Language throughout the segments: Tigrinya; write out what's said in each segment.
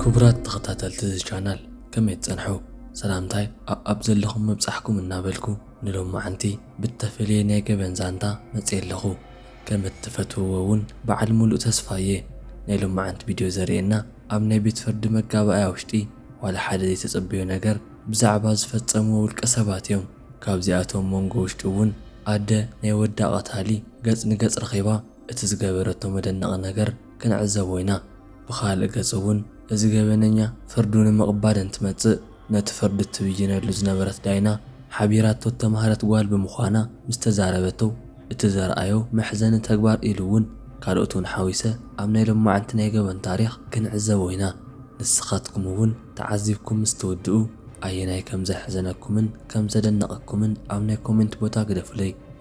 ክቡራት ተኸታተልቲ እዚ ቻናል ከመይ ትጸንሑ ሰላምታይ ኣኣብ ዘለኹም ምብጻሕኩም እናበልኩ ንሎማዓንቲ ብተፈልየ ናይ ገበን ዛንታ መጽየ ኣለኹ ከም እትፈትውዎ እውን በዓል ሙሉእ ተስፋ እየ ናይ ሎማዓንቲ ቪድዮ ዘርእየና ኣብ ናይ ቤት ፍርዲ መጋባእያ ውሽጢ ዋላ ሓደ ዘይተጸበዮ ነገር ብዛዕባ ዝፈጸምዎ ውልቀ ሰባት እዮም ካብዚኣቶም መንጎ ውሽጢ እውን ኣደ ናይ ወዳ ቀታሊ ገጽ ንገጽ ረኺባ እቲ ዝገበረቶ መደነቒ ነገር ክንዕዘቦ ኢና። ብኻልእ ገፅ እውን እዚ ገበነኛ ፍርዱ ንምቕባል እንትመፅእ ነቲ ፍርዲ እትብይነሉ ዝነበረት ዳይና ሓቢራቶ እተምሃረት ጓል ብምዃና ምስ ተዛረበቶ እቲ ዘርኣዮ መሕዘኒ ተግባር ኢሉ እውን ካልኦት እውን ሓዊሰ ኣብ ናይ ሎማዕንቲ ናይ ገበን ታሪኽ ክንዕዘቦ ኢና። ንስኻትኩም እውን ተዓዚብኩም ምስ ትውድኡ ኣየናይ ከም ዘሕዘነኩምን ከም ዘደነቐኩምን ኣብ ናይ ኮሜንት ቦታ ግደፉለይ።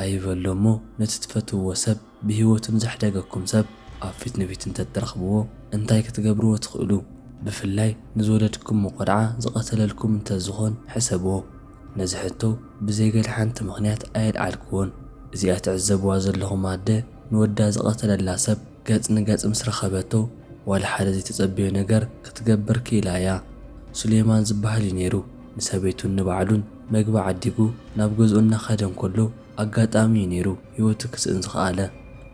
ኣይበሎ እሞ ነቲ ትፈትውዎ ሰብ ብሂወቱ ንዘሕደገኩም ሰብ ኣብ ፊት ንፊት እንተትረኽብዎ እንታይ ክትገብርዎ ትኽእሉ ብፍላይ ንዝወለድክሞ ቆልዓ ዝቐተለልኩም እንተዝኾን ሕሰብዎ ነዚ ሕቶ ብዘይ ገለ ሓንቲ ምኽንያት ኣየልዓልክዎን እዚኣ ትዕዘብዋ ዘለኹም ኣደ ንወዳ ዝቐተለላ ሰብ ገጽ ንገጽ ምስ ረኸበቶ ዋላ ሓደ ዘይተጸበዮ ነገር ክትገብር ክኢላ እያ ሱሌማን ዝብሃል እዩ ኔሩ ንሰበይቱን ንባዕሉን መግቢ ዓዲጉ ናብ ገዝኡ እናኸደ እንከሎ ኣጋጣሚ እዩ ነይሩ ህይወቱ ክስእን ዝኸኣለ።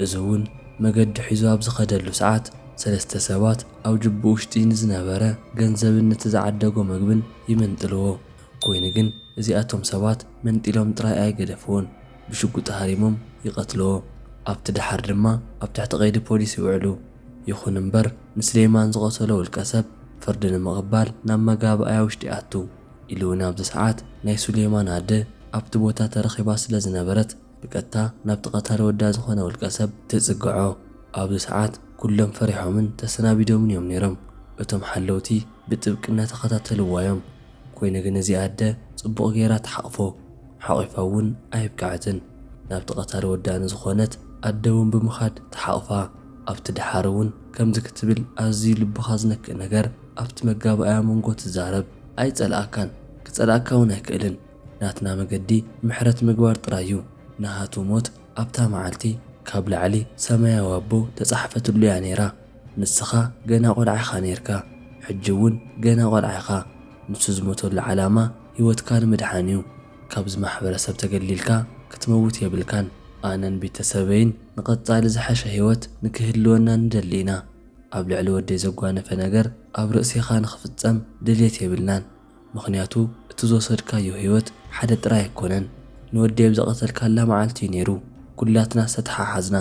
እዚ እውን መገዲ ሒዙ ኣብ ዝኸደሉ ሰዓት ሰለስተ ሰባት ኣብ ጁብኡ ውሽጢ ንዝነበረ ገንዘብን ነቲ ዝዓደጎ መግብን ይምንጥልዎ። ኮይኑ ግን እዚኣቶም ሰባት መንጢሎም ጥራይ ኣይገደፍዎን ብሽጉጢ ሃሪሞም ይቐትልዎ። ኣብቲ ደሓር ድማ ኣብ ትሕቲ ቀይዲ ፖሊስ ይውዕሉ። ይኹን እምበር ንስሌማን ዝቐተሎ ውልቀሰብ ፍርዲ ንምቕባል ናብ መጋብኣያ ውሽጢ ኣቱ ኢሉ እውን ኣብዚ ሰዓት ናይ ሱሌማን ኣደ ኣብቲ ቦታ ተረኺባ ስለ ዝነበረት ብቀጥታ ናብቲ ቀታሊ ወዳ ዝኾነ ውልቀሰብ ትፅግዖ። ኣብዚ ሰዓት ኩሎም ፈሪሖምን ተሰናቢዶምን እዮም ነይሮም። እቶም ሓለውቲ ብጥብቂ እናተኸታተልዋ እዮም። ኮይኑ ግን እዚኣ ኣደ ፅቡቕ ገይራ ትሓቕፎ። ሓቒፋ እውን ኣየብቀዐትን ናብቲ ቀታሊ ወዳ ንዝኾነት ኣደ እውን ብምኻድ ትሓቕፋ። ኣብቲ ደሓር እውን ከምዚ ክትብል ኣዝዩ ልብኻ ዝነክእ ነገር ኣብቲ መጋባእያ መንጎ ትዛረብ። ኣይጸልኣካን ክጸልኣካ እውን ኣይክእልን። ናትና መገዲ ምሕረት ምግባር ጥራይ እዩ። ናሃቱ ሞት ኣብታ መዓልቲ ካብ ላዕሊ ሰማያዊ ኣቦ ተጻሕፈትሉ እያ ነይራ። ንስኻ ገና ቆልዓ ኢኻ ነይርካ። ሕጂ እውን ገና ቆልዓ ኢኻ። ንሱ ዝሞተሉ ዓላማ ህይወትካ ንምድሓን እዩ። ካብዚ ማሕበረሰብ ተገሊልካ ክትመውት የብልካን። ኣነን ቤተሰበይን ንቐጻሊ ዝሐሸ ህይወት ንክህልወና ንደሊ ኢና። ኣብ ልዕሊ ወደይ ዘጓነፈ ነገር ኣብ ርእሴኻ ንክፍጸም ድልየት የብልናን። ምኽንያቱ እቲ ዝወሰድካዮ ህይወት ሓደ ጥራይ ኣይኮነን። ንወደይ ኣብ ዝቐተልካላ መዓልቲ እዩ ነይሩ ኩላትና ዝተተሓሓዝና።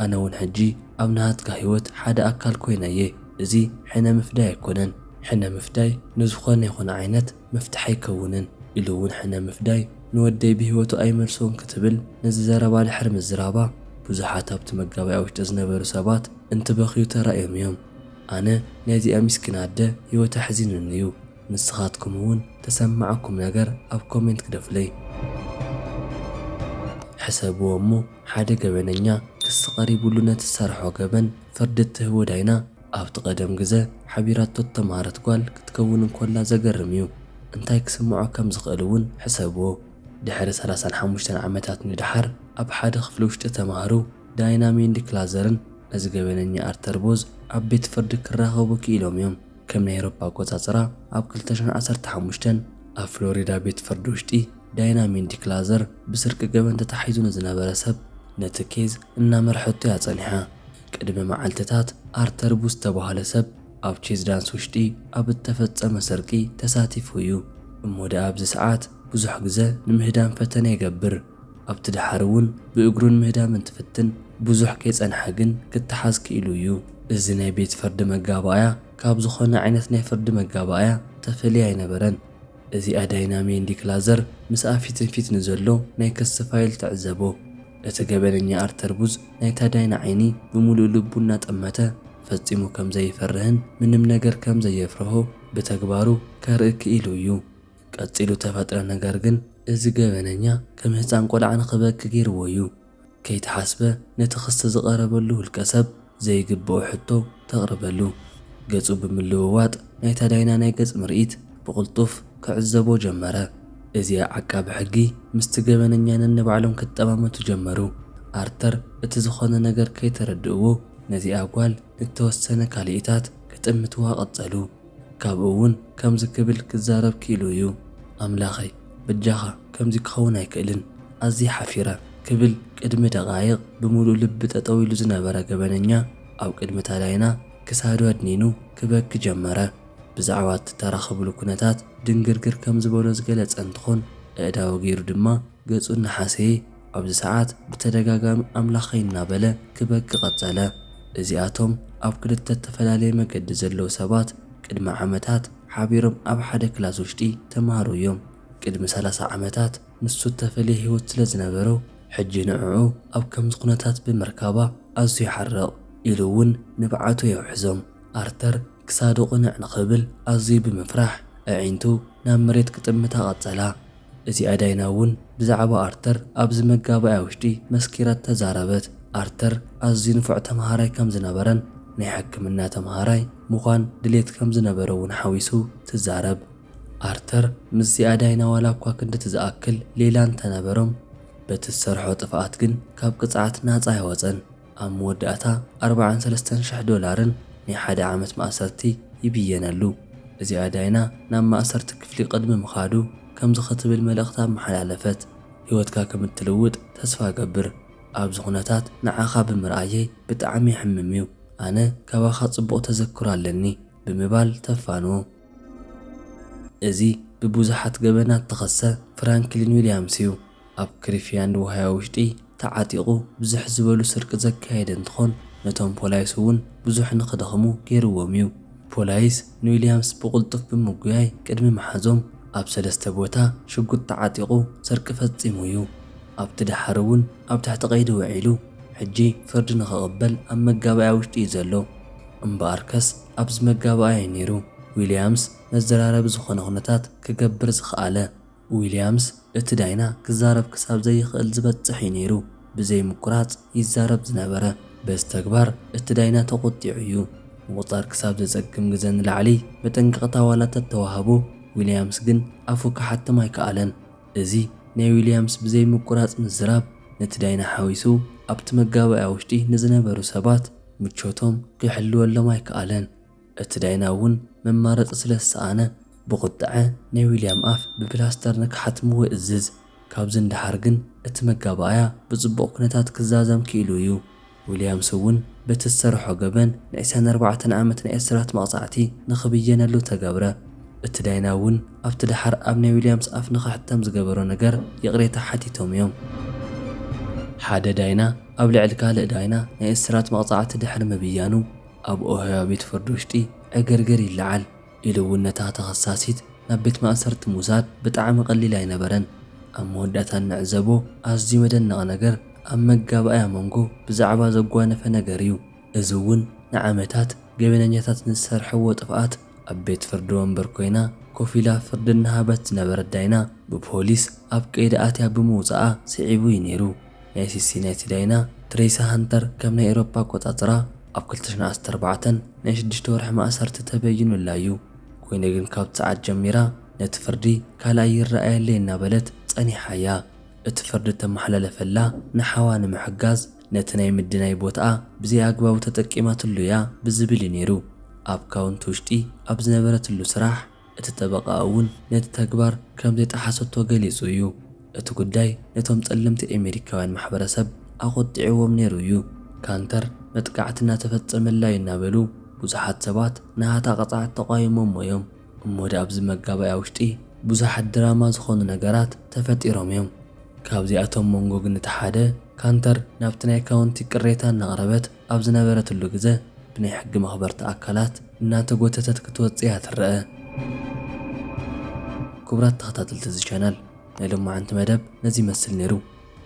ኣነ እውን ሕጂ ኣብ ናሃትካ ህይወት ሓደ ኣካል ኮይነ እየ። እዚ ሕነ ምፍዳይ ኣይኮነን። ሕነ ምፍዳይ ንዝኾነ ይኹን ዓይነት መፍትሒ ኣይከውንን ኢሉ እውን ሕነ ምፍዳይ ንወደይ ብህይወቱ ኣይመልሶን ክትብል ነዚ ዘረባ ድሕሪ ምዝራባ ብዙሓት ኣብቲ መጋበእያ ውሽጢ ዝነበሩ ሰባት እንትበኽዩ ተራእዮም እዮም። ኣነ ናይ እዚኣ ሚስኪን ኣደ ህይወት ኣሕዚኑኒ እዩ። ንስኻትኩም እውን ተሰማዓኩም ነገር ኣብ ኮሜንት ግደፉለይ። ሕሰብዎ እሞ ሓደ ገበነኛ ክሲ ቀሪቡሉ ነቲ ዝሰርሖ ገበን ፍርዲ እትህቦ ዳይና፣ ኣብቲ ቀደም ግዘ ሓቢራቶ እተምሃረት ጓል ክትከውን እንኮላ ዘገርም እዩ። እንታይ ክስምዖ ከም ዝኽእል እውን ሕሰብዎ። ድሕሪ ሰላሳን ሓሙሽተን ዓመታት ንደሓር ኣብ ሓደ ክፍሊ ውሽጢ ተምሃሩ ዳይና ሜንዲ ክላዘርን ነዚ ገበነኛ ኣርተር ቦዝ ኣብ ቤት ፍርዲ ክራኸቡ ክኢሎም እዮም። ከም ናይ ኤሮፓ ኣቆፃፅራ ኣብ ክልተ ሽሕን ዓሰርተ ሓሙሽተን ኣብ ፍሎሪዳ ቤት ፍርዲ ውሽጢ ዳይና ሜንዲ ክላዘር ብስርቂ ገበን ተታሒዙ ንዝነበረ ሰብ ነቲ ኬዝ እናመርሐቶ እያ ፀኒሓ። ቅድሚ መዓልቲታት ኣርተር ቡ ዝተባህለ ሰብ ኣብ ቼዝ ዳንስ ውሽጢ ኣብ እተፈጸመ ስርቂ ተሳቲፉ እዩ። እሞ ደኣ ኣብዚ ሰዓት ብዙሕ ግዘ ንምህዳም ፈተነ ይገብር። ኣብቲ ደሓር እውን ብእግሩ ንምህዳም እንትፍትን ብዙሕ ከይጸንሐ ግን ክተሓዝ ክኢሉ እዩ። እዚ ናይ ቤት ፍርዲ መጋባእያ ካብ ዝኾነ ዓይነት ናይ ፍርዲ መጋባእያ ተፈልየ ኣይነበረን። እዚኣ ዳይናሜን ዲክ ላዘር ምስኣ ፊትንፊት ንዘሎ ናይ ክሲ ፋይል ትዕዘቦ። እቲ ገበነኛ ኣርተር ቡዝ ናይታ ዳይና ዓይኒ ብምሉእ ልቡ እናጠመተ ፈጺሙ ከም ዘይፈርህን ምንም ነገር ከም ዘየፍርሆ ብተግባሩ ከርኢ ክኢሉ እዩ። ቀጺሉ እተፈጥረ ነገር ግን እዚ ገበነኛ ከም ህጻን ቆልዓ ንኽበኪ ገይርዎ እዩ። ከይተሓስበ ነቲ ክሲ ዝቐረበሉ ውልቀሰብ ዘይግብኦ ሕቶ ተቕርበሉ። ገጹ ብምልውዋጥ ናይታ ዳይና ናይ ገጽ ምርኢት ብቕልጡፍ ክዕዘቦ ጀመረ። እዚኣ ዓቃቢ ሕጊ ምስቲ ገበነኛ ነንባዕሎም ክጠማመቱ ጀመሩ። ኣርተር እቲ ዝኾነ ነገር ከይተረድእዎ ነዚኣ ጓል ንእተወሰነ ካልኢታት ክጥምትዋ ቀጸሉ። ካብኡ እውን ከምዚ ክብል ክዛረብ ክኢሉ እዩ፣ ኣምላኸይ፣ በጃኻ፣ ከምዚ ክኸውን ኣይክእልን፣ ኣዝየ ሓፊረ፣ ክብል ቅድሚ ደቓይቕ ብምሉእ ልቢ ጠጠው ኢሉ ዝነበረ ገበነኛ ኣብ ቅድሚ ታላይና ክሳዱ ኣድኒኑ ክበኪ ጀመረ። ብዛዕባ እቲ ተራኸብሉ ኩነታት ድንግርግር ከም ዝበሎ ዝገለጸ እንትኾን፣ ኣእዳዉ ገይሩ ድማ ገጹ እናሓሰየ ኣብዚ ሰዓት ብተደጋጋሚ ኣምላኸይ እናበለ ክበኪ ቀጸለ። እዚኣቶም ኣብ ክልተ እተፈላለየ መገዲ ዘለዉ ሰባት ቅድሚ ዓመታት ሓቢሮም ኣብ ሓደ ክላስ ውሽጢ ተማሃሩ እዮም። ቅድሚ ሰላሳ ዓመታት ንሱ እተፈልየ ህይወት ስለ ዝነበሮ ሕጂ ንዕዑ ኣብ ከምዚ ኩነታት ብምርካባ ኣዝዩ ይሓርቕ ኢሉ እውን ንብዓቱ የውሕዞም። ኣርተር ክሳዱ ቅንዕ ንኽብል ኣዝዩ ብምፍራሕ ኣዒንቱ ናብ መሬት ክጥምታ ቀጸላ። እዚኣ ዳይና እውን ብዛዕባ ኣርተር ኣብዚ መጋባእያ ውሽጢ መስኪራ ተዛረበት። ኣርተር ኣዝዩ ንፉዕ ተመሃራይ ከም ዝነበረን ናይ ሕክምና ተመሃራይ ምዃን ድሌት ከም ዝነበሮ እውን ሓዊሱ ትዛረብ። ኣርተር ምስዚኣ ዳይና ዋላ እኳ ክንድቲ ዝኣክል ሌላ እንተነበሮም በቲ ዝሰርሖ ጥፍኣት ግን ካብ ቅፅዓት ናፃ ኣይወፀን። ኣብ መወዳእታ ኣርብዓን ሰለስተን ሽሕ ዶላርን ናይ ሓደ ዓመት ማእሰርቲ ይብየነሉ። እዚኣ ዳይና ናብ ማእሰርቲ ክፍሊ ቅድሚ ምኻዱ ከምዚ ክትብል መልእኽቲ ኣመሓላለፈት፣ ህይወትካ ከም እትልውጥ ተስፋ እገብር። ኣብዚ ኩነታት ንዓኻ ብምርኣየይ ብጣዕሚ የሕምም'ዩ። ኣነ ካባኻ ጽቡቕ ተዘክሮ ኣለኒ ብምባል ተፋንዎ። እዚ ብብዙሓት ገበናት እተኸሰ ፍራንክሊን ዊልያምስ'ዩ። ኣብ ክሪፊያንድ ዋህያ ውሽጢ ተዓጢቑ ብዝሕ ዝበሉ ስርቂ ዘካየደ እንትኾን ነቶም ፖላይስ እውን ብዙሕ ንክደኽሙ ገይርዎም እዩ። ፖላይስ ንዊልያምስ ብቕልጡፍ ብምጉያይ ቅድሚ ምሓዞም ኣብ ሰለስተ ቦታ ሽጉጥ ተዓጢቑ ስርቂ ፈፂሙ እዩ። ኣብቲ ደሓር እውን ኣብ ትሕቲ ቀይዲ ውዒሉ ሕጂ ፍርዲ ንክቕበል ኣብ መጋባእያ ውሽጢ እዩ ዘሎ። እምበኣርከስ ኣብዚ መጋባእያ እዩ ነይሩ ዊልያምስ መዘራረቢ ዝኾነ ኩነታት ክገብር ዝኸኣለ። ዊልያምስ፣ እቲ ዳይና ክዛረብ ክሳብ ዘይኽእል ዝበጽሕ እዩ ነይሩ ብዘይ ምቁራጽ ይዛረብ ዝነበረ። በዚ ተግባር እቲ ዳይና ተቖጢዑ እዩ። ምቑጻር ክሳብ ዘጸግም ግዘ ንላዕሊ መጠንቀቕታ ዋላ ተተዋህቦ፣ ዊልያምስ ግን ኣፉ ክሓትም ኣይከኣለን። እዚ ናይ ዊልያምስ ብዘይ ምቁራጽ ምዝራብ ነቲ ዳይና ሓዊሱ ኣብቲ መጋባእያ ውሽጢ ንዝነበሩ ሰባት ምቾቶም ክሕልወሎም ኣይከኣለን። እቲ ዳይና እውን መማረፂ ስለ ዝሰኣነ ብቑጥዐ ናይ ዊልያም ኣፍ ብፕላስተር ንክሓትምዎ ይእዝዝ። ካብዚ ንደሓር ግን እቲ መጋባእያ ብፅቡቕ ኩነታት ክዛዘም ክኢሉ እዩ። ዊልያምስ እውን በቲ ዝሰረሖ ገበን ንዕስራን ኣርባዕተን ዓመት ናይ እስራት መቕፃዕቲ ንክብየነሉ ተገብረ። እቲ ዳይና እውን ኣብቲ ደሓር ኣብ ናይ ዊልያምስ ኣፍ ንክሕተም ዝገበሮ ነገር ይቕሬታ ሓቲቶም እዮም። ሓደ ዳይና ኣብ ልዕሊ ካልእ ዳይና ናይ እስራት መቕፃዕቲ ድሕሪ ምብያኑ፣ ኣብ ኦሃዮ ቤት ፍርዲ ውሽጢ ዕግርግር ይለዓል ኢሉ እውን ነታ ተኸሳሲት ናብ ቤት ማእሰርቲ ምውሳድ ብጣዕሚ ቀሊል ኣይነበረን። ኣብ መወዳእታ እንዕዘቦ ኣዝዩ መደነቒ ነገር ኣብ መጋባእያ መንጎ ብዛዕባ ዘጓነፈ ነገር እዩ። እዚ እውን ንዓመታት ገበነኛታት ንዝሰርሐዎ ጥፍኣት ኣብ ቤት ፍርዲ ወንበር ኮይና ኮፍ ኢላ ፍርዲ እናሃበት ዝነበረት ዳይና ብፖሊስ ኣብ ቀይዲ ኣትያ ብምውፀኣ ስዒቡ እዩ ነይሩ። ናይ ሲሲ ናይ ሲዳይና ትሬሳ ሃንተር ከም ናይ ኤሮፓ ኣቆጻጽራ ኣብ ክልተ ሽሕን ዓሰርተ ኣርባዕተን ናይ ሽዱሽተ ወርሒ ማእሰርቲ ተበይኑላ እዩ ኮይኑ ግን ካብቲ ሰዓት ጀሚራ ነቲ ፍርዲ ካልእ ኣይረኣየለይ እናበለት ጸኒሓ እያ እቲ ፍርዲ እተመሓላለፈላ ንሓዋ ንምሕጋዝ ነቲ ናይ ምድናይ ቦትኣ ብዘይ ኣግባቡ ተጠቂማትሉ እያ ብዝብል እዩ ነይሩ ኣብ ካውንቲ ውሽጢ ኣብ ዝነበረትሉ ስራሕ እቲ ጠበቓ እውን ነቲ ተግባር ከም ዘይጠሓሰቶ ገሊጹ እዩ። እቲ ጉዳይ ነቶም ጸለምቲ ኣሜሪካውያን ማሕበረሰብ ኣቖጢዕዎም ነይሩ እዩ። ካንተር መጥቃዕቲ እናተፈጸመላ እዩ እናበሉ ብዙሓት ሰባት ናሃታ ቅጽዓት ተቛይሞሞ እዮም። እሞ ድኣ ኣብዚ መጋባእያ ውሽጢ ብዙሓት ድራማ ዝኾኑ ነገራት ተፈጢሮም እዮም። ካብዚኣቶም መንጎ ግን እቲ ሓደ ካንተር ናብቲ ናይ ካውንቲ ቅሬታ እናቕረበት ኣብ ዝነበረትሉ ግዘ ብናይ ሕጊ መኽበርቲ ኣካላት እናተጎተተት ክትወፅእ እያ ትረኣ። ክቡራት ተኸታተልቲ እዚ ቻናል ናይ ሎማዕንቲ መደብ ነዚ ይመስል ነይሩ።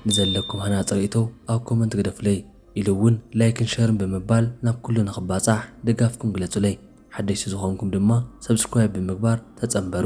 ንዘለኩም ሃናፂ ሪኢቶ ኣብ ኮመንት ግደፉለይ ኢሉ እውን ላይክን ሸርን ብምባል ናብ ኩሉ ንኽባፃሕ ድጋፍኩም ግለፁለይ። ሓደሽቲ ዝኾንኩም ድማ ሰብስክራይብ ብምግባር ተፀምበሩ።